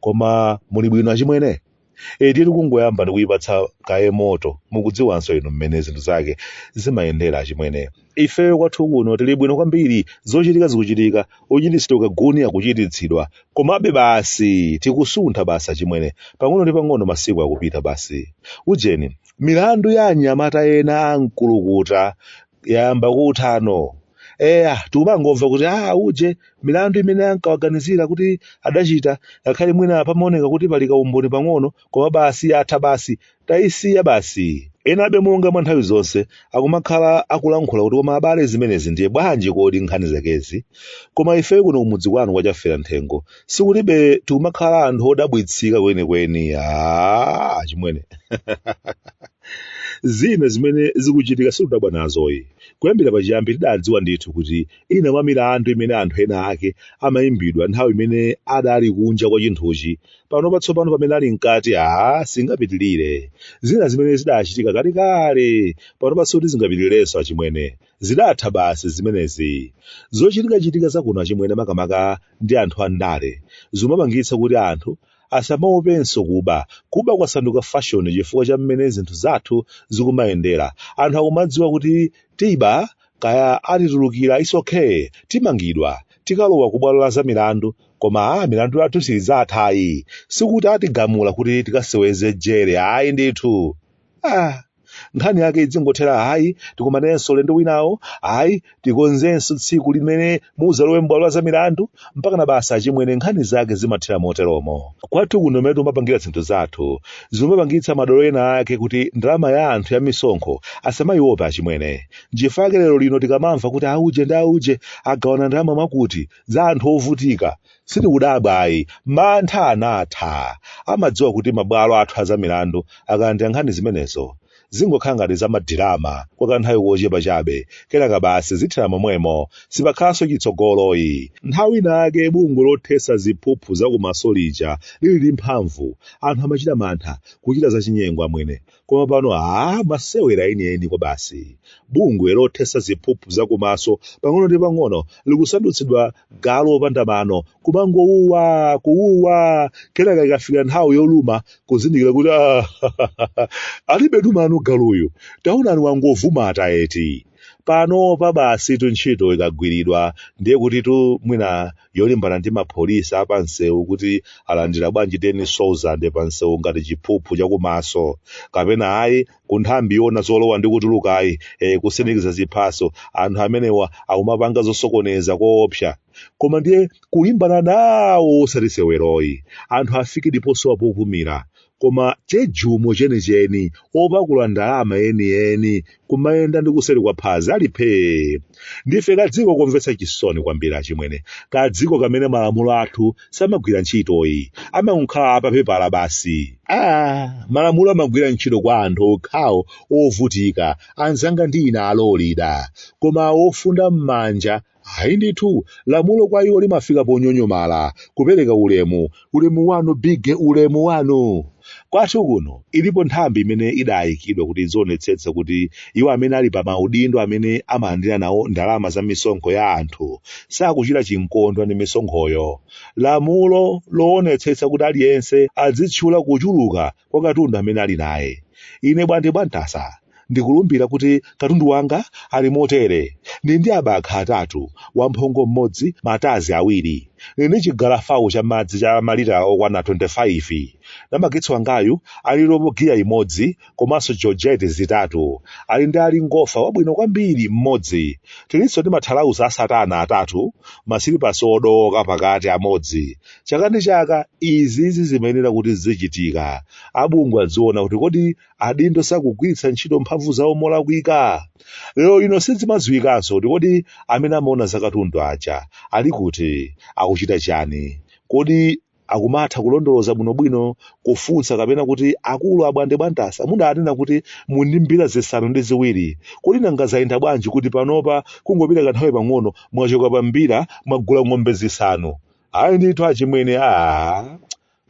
koma muli bwino achimwene eti tikungoyamba ndikuyipatsa kaye moto mukudziwanso inu mmene zinthu zake zimayendera achimwene ifeyo kwathu kuno tili bwino kwambiri zochitika zikuchitika kuchititsidwa kakasi akuchititsidwa komabe basi tikusuntha basi achimwene pang'ono ndi pang'ono masiku akupita basi ujeni milandu ya anyamata ena akuluakulu yayamba kuthano eya tikumangomva kuti a auje milandu imene ankawaganizira kuti adachita ngakhale mwina pamaoneka kuti pali kaumboni pang'ono koma basi yatha basi tayisiya basi enabe monga mwa nthawi zonse akumakhala akulankhula kuti koma abale zimenezi ndiye bwanji kodi nkhani zakezi koma ifeyo kuno kumudzi kwanu kwa Chafera Nthengo sikuti tikumakhala anthu odabwitsika kwenikweni achimwene zina zimene zikuchitika sitidabwa nazo yi kuyambira pachiyambi tidadziwa ndithu kuti ina mwa milandu imene anthu ena ake amayimbidwa nthawi imene adali kunja kwa chinthuchi pano patsopano pamene ali mkati aa singapitirire zina zimene zidachitika kalekale panonso kuti zingapitirirenso achimwene Zidatha basi zimenezi. Zochitikachitika za kuno achimwene makamaka ndi anthu andale zikumapangitsa kuti anthu asamaopenso kuba. Kuba kwasanduka fashion chifukwa cha mmene zinthu zathu zikumayendera. Anthu akumadziwa kuti tiba, kaya atitulukira it's okay, timangidwa tikalowa kubwalo la zamilandu koma ah, milandu yathu idzatha ayi. Sikuti atigamula kuti tikaseweze jere ayi ndithu. Ah. nkhani yake izingothera hayi tikumanenso ulendo winawo hayi tikonzenso tsiku limene mudzalowe m'bwalo la zamilandu mpaka na basa achimwene nkhani zake zimathera moteromo kwathu kuno mmene timapangira zinthu zathu zimapangitsa madolo ena ake kuti ndalama ya anthu ya misonkho asamayiopa achimwene nchifukwa yake lero lino tikamamva kuti auje ndi auje agawana ndalama mwakuti za anthu ovutika Sitikudabwa ayi, mantha anatha. Amadziwa kuti mabwalo athu a zamilandu akalandira nkhani zimenezo, zingokhala ngati zamadirama kwa kanthawi kochepa chabe, kenaka basi zithera momwemo, sipakhalanso chitsogolo yi. Nthawi inayake bungwe lothetsa ziphuphu za kumaso lija lili mphamvu, anthu amachita mantha kuchita zachinyengo amwene, Koma pano aah masewera enieni kwabasi. Bungwe lothetsa ziphuphu za kumaso pang'ono ndi pang'ono likusandutsidwa galu opanda mano kumangowuwa kuwuwa kenaka ikafika nthawi yoluma kuzindikira kuti aah alibetu mano galuyu taonani wangovuma eti. Panopa basitu ntchito ikagwiridwa ndiye kutitu mwina yolimbana ndi apolisi a pansewu kuti alandira bwanji 10,000 pansewu ngati chiphuphu chakumaso kapena ayi ku nthambi yoona zolowa ndi kutulukayi eh, kusindikiza ziphaso anthu amenewa akumapanga zosokoneza koopsa koma ndiye kulimbana nawo osati maseweroyi anthu afike ndi posowa popumira koma chejumo chenicheni opakula ndalama enieni kumayenda ndi kuseri kwa phazi ali phee ndife kadziko komvetsa chisoni kwambiri achimwene kadziko kamene malamulo athu samagwira ntchitoyi amangokhala a papepala basi ah malamulo amagwira ntchito kwa anthu okhawo ovutika anzanga ndi ine alolida koma ofunda m'manja Ayi ndithu, lamulo kwa iwo limafika ponyonyomala, kupereka ulemu, ulemu wanu bige ulemu wanu. Kwathu kuno ilipo nthambi imene idayikidwa kuti idzionetsetse kuti iwo amene ali pa maudindo amene amalandira nawo ndalama za misonkho ya anthu sakuchita chinkondwa ndi misonkhoyo. Lamulo loonetsetsa kuti aliyense adzitchula kuchuluka kwa katundu amene ali naye ine bwande bwantasa ndikulumbira kuti katundu wanga ali motere ndili ndi abakha atatu wamphongo mmodzi matadzi awiri ndili ndi chigalafawu cha madzi cha malita okwana 25 namagetsi wangayu ali ndi robo giya imodzi komanso georgette zitatu ali ndi ali ngofa wabwino kwambiri mmodzi tilinso ndi mathalauza a satana atatu masilipasi odooka pakati amodzi chaka ndi chaka izizi zimayenera kuti zizichitika abungwe adziwona kuti kodi adindo sakugwiritsa ntchito mphamvu zawo molakwika lero ino sizimadziwikanso kuti kodi amene amaona zakatundu aja ali kuti akuchita chani kodi akumatha kulondoloza bwinobwino kufunsa kapena kuti akulu abwande bwantasa mudanena kuti muli ndi mbira zisanu ndi ziwiri kodi nanga zayenda bwanji kuti panopa kungopita kanthawi pang'ono mwachoka pa mbira mwagula ng'ombe zisanu ayi ndithu achimwene a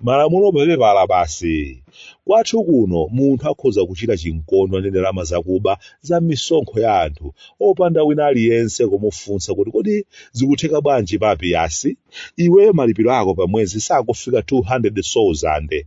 malamulo papepala basi kwathu kuno munthu akhoza kuchita chinkondwa ndi ndalama zakuba za misonkho ya anthu opanda wina aliyense kumufunsa kuti kodi zikutheka bwanji pa PS iweyo malipiro ako pa mwezi sakufika 200,000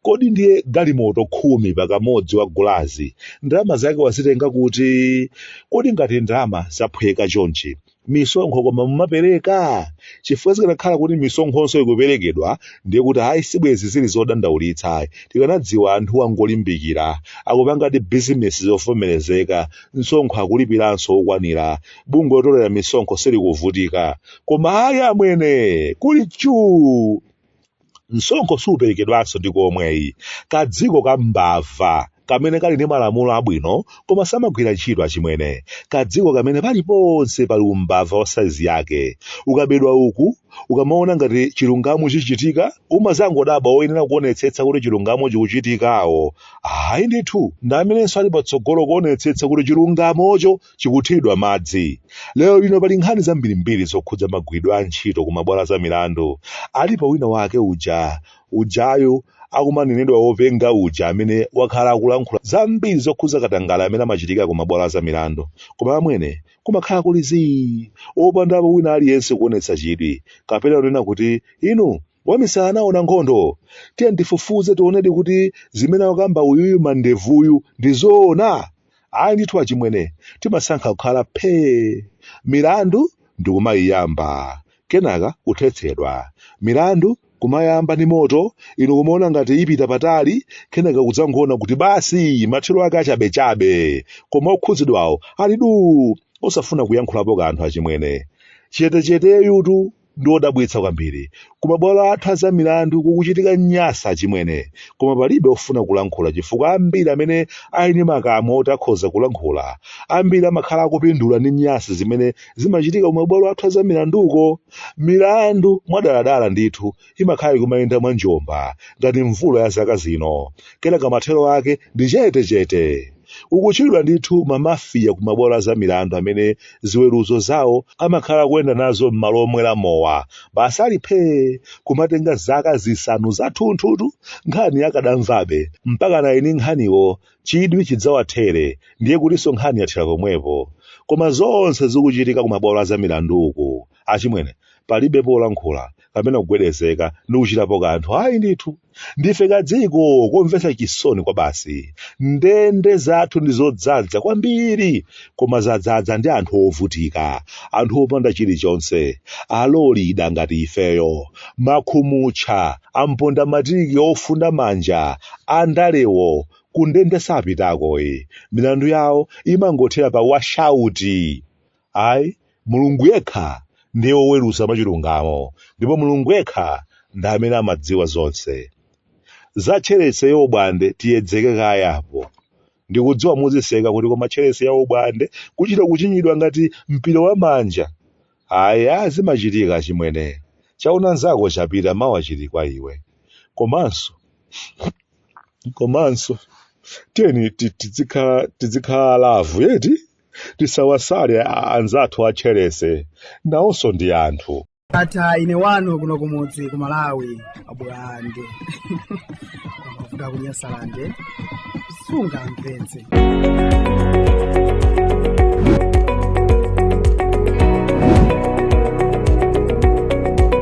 kodi ndiye galimoto khumi pakamodzi wagulazi ndalama zake wazitenga kuti kodi ngati ndalama zaphweka chonchi misonkho koma mumapereka chifukwa zikanakhala kuti misonkhonso ikuperekedwa ndiye kuti ayi sibwezi zili zodandaulitsa ayi tikanadziwa anthu angolimbikira akupangadi bizinesi zovomerezeka msonkho akulipiranso wokwanira bungwe lotolera misonkho silikuvutika koma ayi amwene kuli chuu msonkho superekedwanso ndi komweyi kadziko ka mbava kamene kali ndi malamulo abwino koma samagwira ntchito achimwene kadziko kamene paliponse pali umbava wa saizi yake ukabedwa uku ukamaona ngati chilungamo chichitika umazangodabwa oyenera kuonetsetsa kuti chilungamo chikuchitikawo ayi ndithu ndi amenenso ali patsogolo kuonetsetsa kuti chilungamocho chikuthiridwa madzi. Lero lino pali nkhani zambirimbiri zokhudza magwiridwe a ntchito ku mabwalo a zamilandu. Alipo wina wake uja, ujayu akumanenedwa wopenga uja amene wakhala akulankhula zambiri zokhudza katangale amene amachitika ku mabwalo a zamilandu. Koma amwene, kumakhala kuli zii, opandapo wina aliyense kuonetsa chidwi, kapena kunena kuti, inu, wamisala anaona nkhondo. Tiyeni tifufuze tionedi kuti zimene akukamba uyuyu mandevuyu ndi zoona. ayi ndithu achimwene timasankha kukhala phee milandu ndikumayiyamba kenaka kuthetsedwa milandu kumayamba ndi moto inu kumaona ngati ipita patali kenaka kudzangoona kuti basi mathero ake achabechabe koma okhudzidwawo ali duu osafuna kuyankhulapo kanthu achimwene chetecheteyutu ndi odabwitsa kwambiri. Ku mabwalo athu a zamilandu kukuchitika nyasi achimwene, koma palibe ofuna kulankhula chifukwa ambiri amene ali ndi makamwa oti akhoza kulankhula, ambiri amakhala akupindula ndi nyasi zimene zimachitika ku mabwalo athu a zamilanduko. Milandu mwadaladala ndithu imakhala ikumayenda mwa njomba ngati mvula ya zaka zino, kenaka mathero ake ndi chetechete. Ukutchulidwa ndithu ma Mafia ku mabwalo a zamilandu amene ziweruzo zawo amakhala akuyenda nazo m'malo omwera mowa. Basi ali phee! Kumatenga zaka zisanu zathunthutu nkhani akadamvabe, mpakana eni nkhaniwo chidwi chidzawathere ndiye kutinso nkhani yathera pomwepo. Koma zonse zikuchitika ku mabwalo a zamilandu uku, achimwene palibepo olankhula kapena kugwedezeka ndi kuchitapo kanthu ayi ndithu ndife kadziko komvetsa chisoni kwabasi ndende zathu ndi zodzadza kwambiri koma zadzadza ndi anthu ovutika anthu opanda chilichonse alolida ngati ifeyo makhumutcha amponda matiki ofunda manja andalewo kundende sapitakoyi milandu yawo imangothera pa washauti Ayi, Mulungu yekha ndiye woweruza mwachilungamo, ndipo Mulungu yekha ndi amene amadziwa zonse. Za Chelsea yaubwande tiyedzeke kaye apo. Ndikudziwa muziseka kuti koma Chelsea yaubwande kuchita kuchinyidwa ngati mpira wa manja. Ayi, a zimachitika achimwene. Chaona nzako chapita mawa chili kwa iwe. Komanso, komanso tiyeni ti- tidzikhala tidzikhala alavu yeti tisawasale a- anzathu atcherese nawonso ndi anthu ata ine wanu kuno kumudzi ku malawi abulande kuda kunyasalande sungamvetse